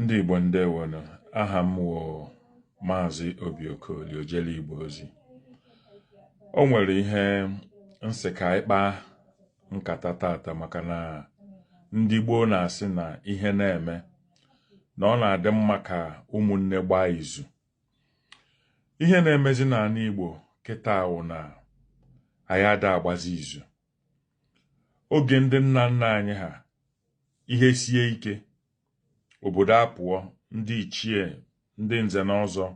ndị Igbo ndewonụ aha m wụ Maazị Obi Okoli Ojele Igbo Ozi o nwere ihe m sị ka anyị kpaa nkata tata maka na ndị gboo na-asị na ihe na-eme na ọ na-adị mma ka ụmụnne gbaa izu ihe na-emezi n'ala Igbo kịta wụ na anyị ada agbazi izu oge ndị nna nna anyị ha ihe sie ike obodo apụọ ndị ichie ndị nze na ọzọ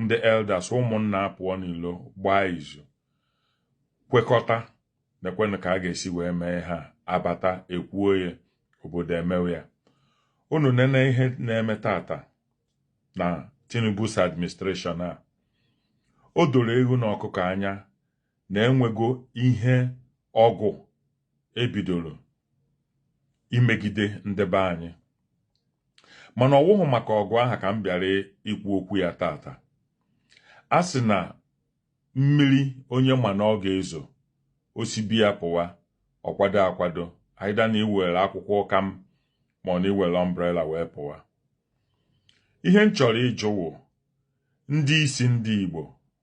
ndị elders ụmụnna apụọ n'ilo gbaa izu kwekọta nekwenụ ka a ga-esi wee mee ha abata ekwuo ya obodo emewe ya unu nene ihe na-eme tata na Tinubu's administration a o doro ewu na ọkụkọ anya na e nwego ihe ọgụ e bidoro imegide ndị be anyị mana ọ wụghị maka ọgụ aha ka m bịara ikwu okwu ya tata a sị na mmiri onye ma na ọ ga-ezo o si be ya pụwa ọ kwado akwado either na i were akwụkwọ ụkam ma ọ na i were umbrella wee pụwa ihe m chọrọ ịjụ wụ ndị isi ndị Igbo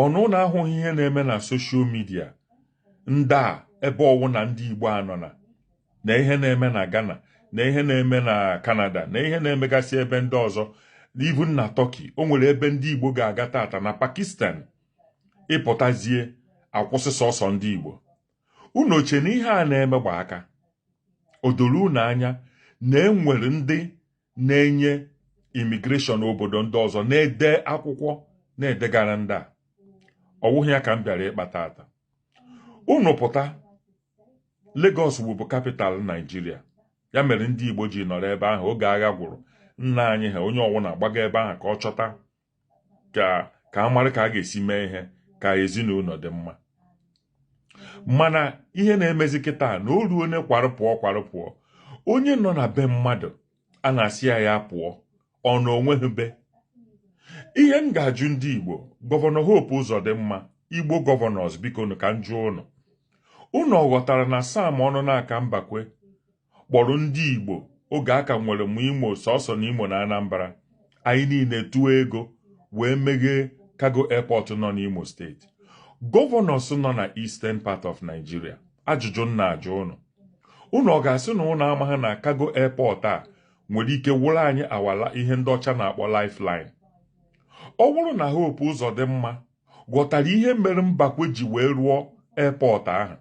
ọ na unu ahụghị ihe na-eme na social media ndị a ebe ọwụna ndị Igbo anọna na ihe na-eme na Ghana na ihe na-eme na Canada na ihe na-emegasị ebe ndị ọzọ even na Turkey o nwere ebe ndị Igbo ga-aga tata na Pakistan ị pụtazie a kwụsị sọsọ ndị Igbo unu o che na ihe a na-eme gba aka o doro unu anya na e nwere ndị na-enye immigration obodo ndị ọzọ na-ede akwụkwọ na-edegara ndị a ọ wụghị ya ka m bịara ịkpa tata unu pụta Lagos wụbu capital Nigeria ya mere ndị Igbo ji nọrọ ebe ahụ oge agha gwụrụ nna anyị ha onye ọwụna agbaga ebe ahụ ka ọ chọta ka a mara ka a ga-esi mee ihe ka ezinụlọ dị mma mana ihe na-emezi kịta na o ruo onye kwarụ pụọ kwarụ pụọ onye nọ na be mmadụ a na-asị ya ya pụọ ọ na o nweghị be ihe m ga-ajụ ndị Igbo gọvanọ Hope Uzodimma Igbo gọvanọs bikonụ ka m jụọ unu unu ọ ghọtara na Sam Onunaka Mbakwe kpọrọ ndị Igbo oge a ka nwere m Imo sọsọ na Imo na Anambra anyị niile tụọ ego wee meghee cargo airport nọ n'Imo steeti gọvanọs nọ na eastern part of Nigeria ajụjụ m na-ajụ unu unu ọ ga-asị na unu amaghị na cargo airport a nwere ike wụrụ anyị awala ihe ndị ọcha na-akpọ lifeline ọ wụrụ na Hope Uzodimma ghọtara ihe mere Mbakwe ji wee rụọ airport ahụ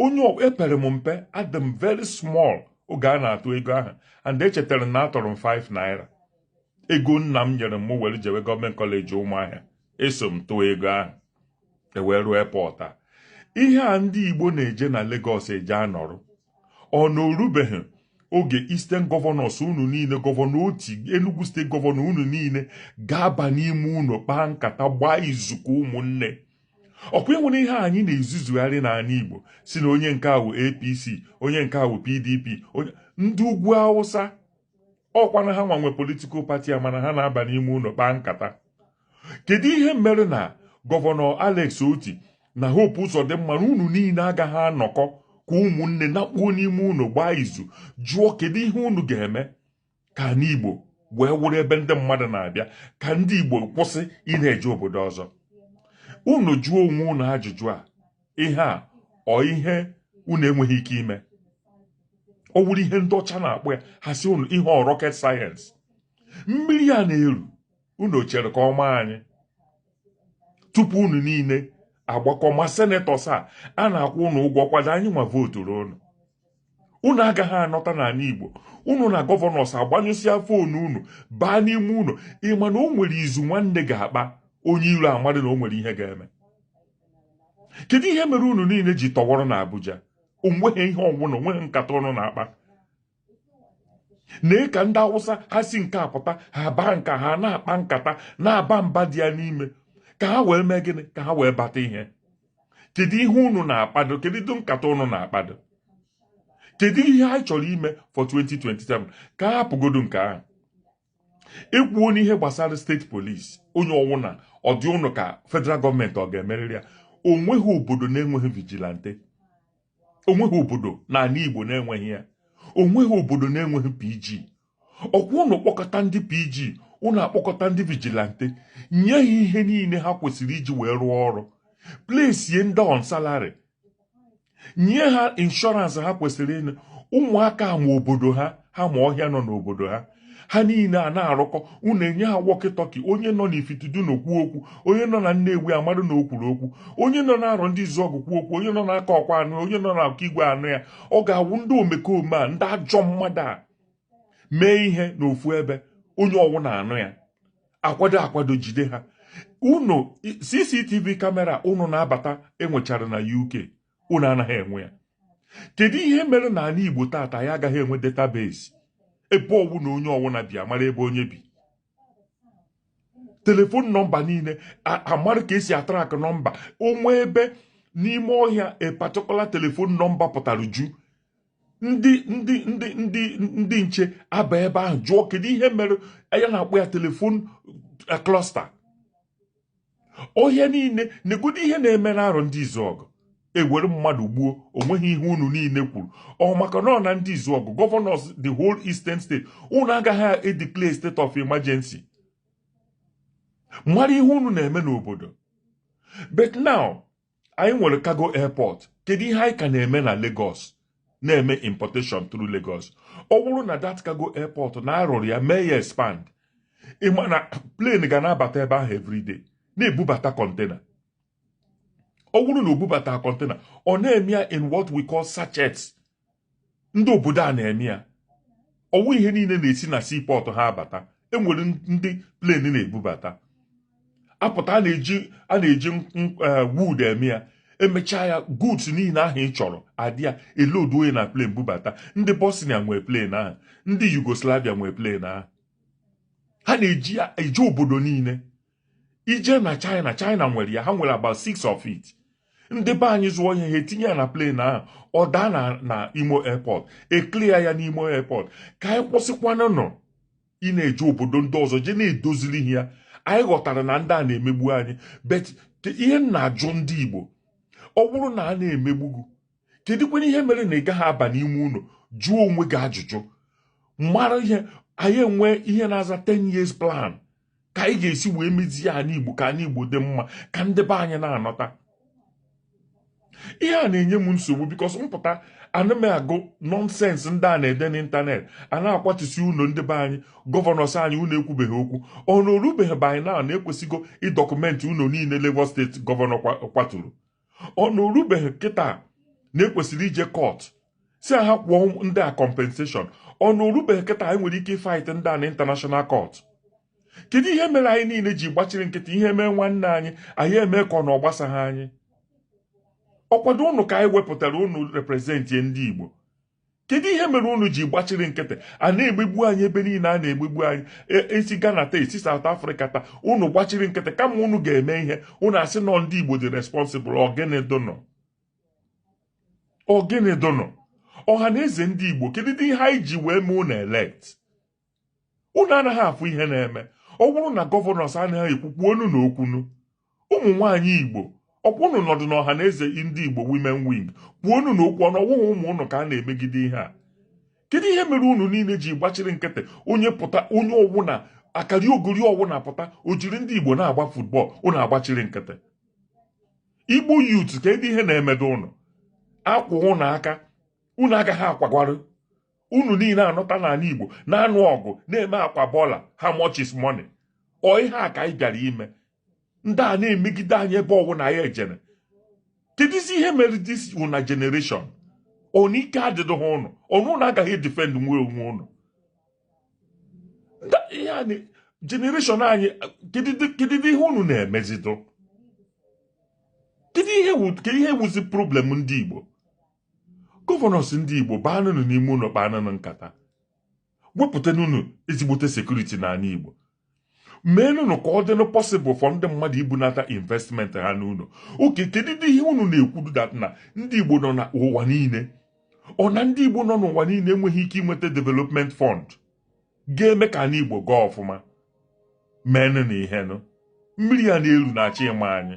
onye epere m mpe adị m very small oge a na-atụ ego ahụ and echetere m na atụrụ m 5 naira ego nna m nyere m were jewe gọọmenti kọleji ụmụahịa eso m tụọ ego ahụ ewee rụọ airport a ihe a ndị igbo na-eje na Lagos eje anọrọ ọ na o rubeghị oge Eastern gọvanọs unu niile gọvanọ Otti Enugu steeti gọvanọ unu niile ga-aba n'ime ụnọ kpaa nkata gbaa izu ka ụmụnne ọkwa e nwere ihe anyị na-ezuzugharị n'ala Igbo sị na onye nke a wụ APC onye nke a wụ PDP ndị ugwu Awụsa ọkwa na ha nwa nwe politikal pati a mana ha na-aba n'ime ụnọ kpaa nkata kedu ihe mere na gọvanọ Alex Otti na Hope Uzodimma na unu niile agaghị anọkọ ka ụmụnne nakpuo n'ime ụnọ gbaa izu jụọ kedu ihe unu ga-eme ka anị Igbo wee wụrụ ebe ndị mmadụ na-abịa ka ndị Igbo kwụsị ị na-eje obodo ọzọ unu jụọ onwe unu ajụjụ a ihe a ọ ihe unu enweghị ike ime ọ wụrụ ihe ndị ọcha na-akpọ ya ha sị na ihe ọ rocket science mmiri a na-eru unu chere ka ọ maa anyị tupu unu niile agbakọ ma senetọs a a na-akwụ unu ụgwọ ọkwadụ anyị nwa voturu unu unu agaghị anọta n'ala Igbo unu na gọvanọs agbanyụsịa foonu unu baa n'ime ụnọ ị ma na o nwere izu nwanne ga-akpa onye iro amarụ na o nwere ihe ga-eme kedu ihe mere unu niile ji tọwọrọ na Abuja onweghị ihe ọwụna onweghị nkata unu na-akpa nee ka ndị awụsa ha si nke a pụta ha baa nka ha na-akpa nkata na-aba mba dị ya n'ime ka ha wee mee gịnị ka ha wee bata ihe kedu ihe unu na-akpado kedu nkata unu na-akpado kedu ihe anyị chọrọ ime for 2027 ka a hapụgodu nke ahụ ekwuo n'ihe gbasara steeti polisi onye ọwụna ọ dị unu ka federal gọọmenti ọ ga-emerịrị ya onweghị obodo na-enweghị vigilante onweghị obodo n'ala Igbo na-enweghị ya onweghị obodo na-enweghị PG ọkwa unu kpọkọta ndị PG unu akpọkọta ndị vigilante nye ha ihe niile ha kwesịrị iji wee rụọ ọrụ plesie ndị on salary nye ha inshọransị ha kwesịrịnụ ụmụaka a ma obodo ha ha ma ọhịa nọ n'obodo ha ha niile ana-arụkọ unu enye ha wọkịtọki onye nọ n'Ifitedunu kwuo okwu onye nọ na nnewi amarụ na o kwuru okwu onye nọ na Arọndizuọgụ kwuo okwu onye nọ n'Akọkwa anụ onye nọ n'Okigwe anụ ya ọ ga-awụ ndị omekome a ndị ajọ mmadụ a mee ihe n'ofu ebe onye ọwụna anụ ya akwado akwado jide ha unu cctv kamera unu na-abata enwechara na uk unu anaghị enwe ya kedu ihe mere na ala igbo tata anyị agaghị enwe database ebe ọwụna onye ọwụna bi amara ebe onye bi telefon nọmba niile amara ka esi atrak nọmba o nwee ebe n'ime ọhịa a particular telefon nọmba pụtara ju ndị ndị ndị ndị ndị nche aba ebe ahụ jụọ kedu ihe mere a na-akpọ ya telefon klọsta ọhịa niile negodo ihe na-eme n'arọ ndị izuọgụ ewere mmadụ gbuo onweghị ihe unu niile kwuru ọ maka na ọ na ndị izuọgụ gọvanọs the whole eastern state unu agaghị edeclare state of emergency mara ihe unu na-eme n'obodo but now anyị nwere cargo airport kedu ihe anyị ka na-eme na Lagos na-eme importation through Lagos ọ bụrụ na that cargo airport na arụrụ ya mee ya expand ịma na plane ga na-abata ebe ahụ everyday na-ebubata kọntena ọ bụrụ na o bubata kọntena ọ na-eme ya in what we call sachets ndị obodo a na-eme ya ọwụ ihe niile na-esi na siipọtụ ha abata enwere ndị plen na-ebubata apụta a na-eji a na-eji eh, wood eme ya emechaa ya goods niile ahụ ị chọrọ adị ya elodunye na plen bubata ndị bosnia nwee plen ahụ ndị yugoslavia nwee plen ahụ ha na-eji ya eje obodo niile ije na China China nwere ya ha nwere about six of it ndị be anyị zụọ ihe ha etinye ya na plane ahụ ọ daa na na imo airport eklia ya n'imo airport ka anyị kwụsịkwanụnụ ịna-eje obodo ndị ọzọ jee na-edoziri ihe ya anyị ghọtara na ndị a na-emegbu anyị but ihe m na-ajụ ndị Igbo ọ bụrụ na a na-emegbu gị kedụkwanụ ihe mere na ị gaghị aba n'ime ụlọ jụọ onwe gị ajụjụ mara ihe anyị enwe ihe na-aza 10 years plan ka anyị ga-esi wee mezie ana igbo ka ana igbo dị mma ka ndị be anyị na-anọta ihe a na-enye m nsogbu because mpụta ana m agụ nọnsensị ndị a na-ede n'ịntanetị a na-akwatusi ụlọ ndị be anyị gọvanọs anyị unu ekwubeghị okwu ọ na orubeghị by now na ekwesịgo ịdọkụmentị ụlọ niile Lagos steeti gọvanọ kwaturu ọ na orubeghị kịta na ekwesịrị ije kọt sị ha kwụọ ndị a kọmpenseshọn ọ na orubeghị kịta anyị nwere ike ịfaịt ndị a na intanashọnal kọt kedu ihe mere anyị niile ji gbachiri nkịtị ihe mee nwanne anyị anyị eme ka ọ na ọ gbasaghị anyị ọkwadụ unu ka anyị wepụtara unu reprezentị ndị Igbo kedu ihe mere unu ji gbachiri nkịtị a na-emegbu anyị ebe niile a na-emegbu anyị e si Ghana taa e si South Africa taa unu gbachiri nkịtị kama unu ga-eme ihe unu asị na ọ ndị Igbo dị responsible ọ gịnị dịnụ ọ gịnị dịnụ ọha na eze ndị Igbo kedu ihe anyị ji wee mee unu elect unu anaghị afụ ihe na-eme ọ bụrụ na governors anaghị ekwu kwuonụ na okwunụ ụmụ nwaanyị igbo ọkwa unu nọdụ na ọha na eze ndị igbo women wing kwuonụ na okwu ọ na ọ wụghị ụmụ ụnụ ka a na-emegide ihe a kedu ihe mere unu niile ji gbachiri nkịtị onye pụta onye ọwụna akariogori ọwụna pụta o jiri ndị igbo na-agba football unu agbachiri nkịtị igbo youth kedụdị ihe na-emedụ ụnụ a kwaa ụnụ aka unu agaghị akwagwarụ unu niile anọta n'ala Igbo na-anụ ọgụ na-eme akwa bọla how much is money ọ ihe a ka anyị bịara ime ndị a na-emegide anyị ebe ọwụna anyị jere kedụzi ihe mere this una generation ọ na ike adịdịghị ụnụ ọ na ụnụ agaghị edefendnwu onwe ụnụ generation anyị kedụ ihe unu na-emezidụ kedu ihe wuzi problem ndị Igbo governors ndị Igbo baanụnụ n'ime ụlọ kpaanụnụ nkata wepụtanụnụ ezigbote security n'ala Igbo meenụnụ ka ọ dịnụ possible for ndị mmadụ ibunata investment ha n'ụlọ okay kedudị ihe unu na-ekwudụ that na ndị Igbo nọ na ụwa niile ọ na ndị Igbo nọ n'ụwa niile enweghị ike inweta development fund ga-eme ka ala Igbo gaa ọfụma meenụ na ihenụ mmiri a na-eru na-achọ ịma anyị